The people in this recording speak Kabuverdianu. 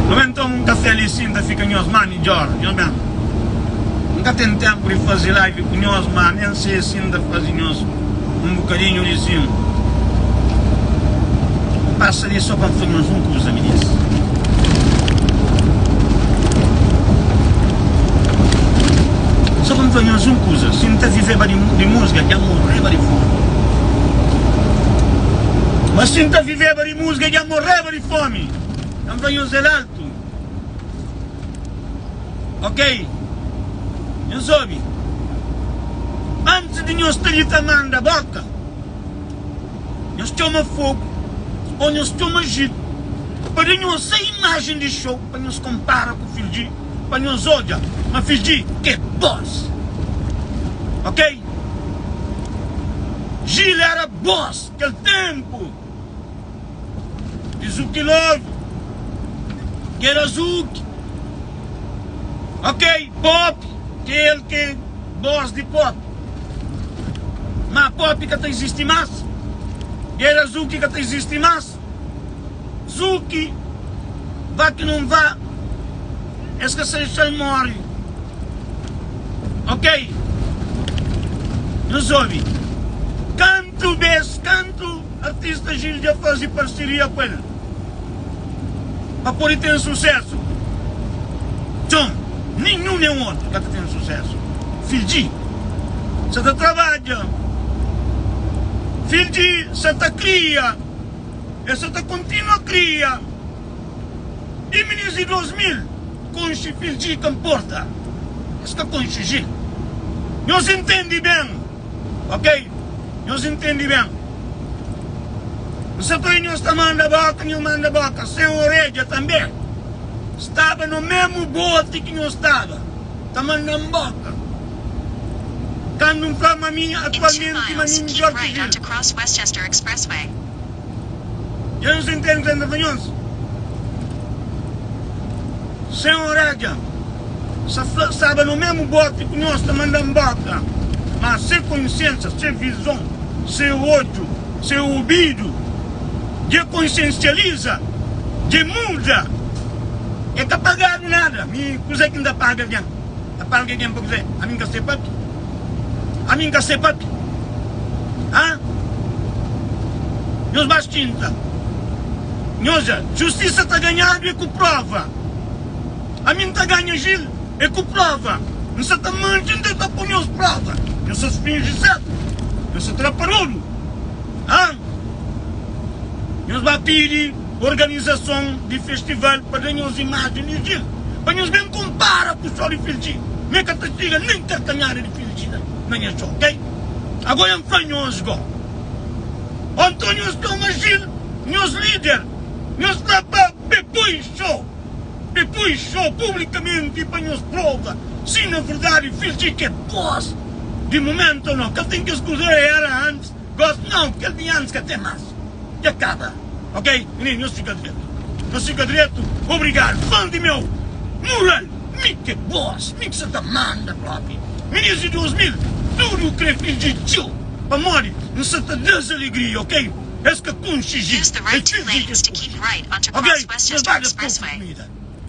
Nu ben toma un kafé li, sinta, fika nhos má midjór. Nhos ben. N ka ten ténpu di faze live ku nhos, má nen se sin ta faze nhos un bukadinhu rizinhu. N pasa li sô pa N fla nhos un kuza, minis. Sô pa N fla nhos un kuza, si N ta viveba di di múzika, dja N morreba di fómi. Má si N ta viveba di. Musga dja morreba di fomi N fla nhos el altu Ok nhos obi Antis di nhos ta di ta manda bóka Nhos txoma fogu Ô nhos txoma jitu Pa da nhos sa imajen di xou Pa nhos konpara ku fidji Pa nhos odja ma fidji ke bós Ok Jil éra bós kel ténpu. Di zuki novu kena zuki okay popi kel ke boss di popi ma popi ka ta izisti mas kena zuki ka ta izisti mas zuki va ki nun va es ka sai sai mori okay nos obi kantu bes kan. Otu artista Gil dja faze parseria ku el pa pode ten susésu. Txon, nen un nen otu ka ta ten susésu. Fidji sa ta trabadja, Fidji sa ta kria, el sa ta kontinua kria. I minins di 2000 konxe Fidji ka nporta es ka konxe Gil. Nhos intende ben. Ok, nhos intendi ben. N sa kua nhos ta manda bóka, nhos manda bóka sen oredja tanbê. Staba no mésmu boti ki nhos staba ta manda-m bóka kandu N fla ma mi atualmenti ma mi midjór ki Vil. Dja nu sentadu ta na runions sen orédja sa fla ki staba no mésmu bóti ku nos ta manda-m bóta má se konsiénsa, se vizon, se odju, se obidu dja konsiensializa, dja muda. El ka pagadu nada. Mi, kuzê ki N ta paga algen? ta pâ alge gen pa kuzê? Ami N ka sê pâpia? Ami N ka sê pâpia? Hâ? Nhos ba stinta. Nhos dja, justisa ta ganhadu ê ku prova. Ami N ta ganha jil ê ku prova. N sa ta manti nte N ta pô nhos prova. Nhos sa finji sértu. Nhos sa tra pa rodu. Hâ? Nhos ba pidi. Organizason di festival pa da nhos imajen di djin pa nhos ben konpara ku sol di fildji me ka ta txiga nen karkanhada di fildji na nha txon ok ago ya nfla nhos go o nton nhos toma jil nhos lider nhos fla pa be poi xo be poi xo publikamenti pa nhos prova si na verdadi fildji ke bos di momento no ka ten kes kuza era antis. Gosi nau, kel bin antis ka ten mas, dja kaba ok minin nhos fika dretu nhos fika dretu obrigadu valdi meu mural mike boss mi ki sa ta manda propi minin di 2000 tudu u kre fingi txeu pamodi n sa ta das alegria ok es ka kunsi ji es fingi ki es kunsi ok nhos ba da poku kumida.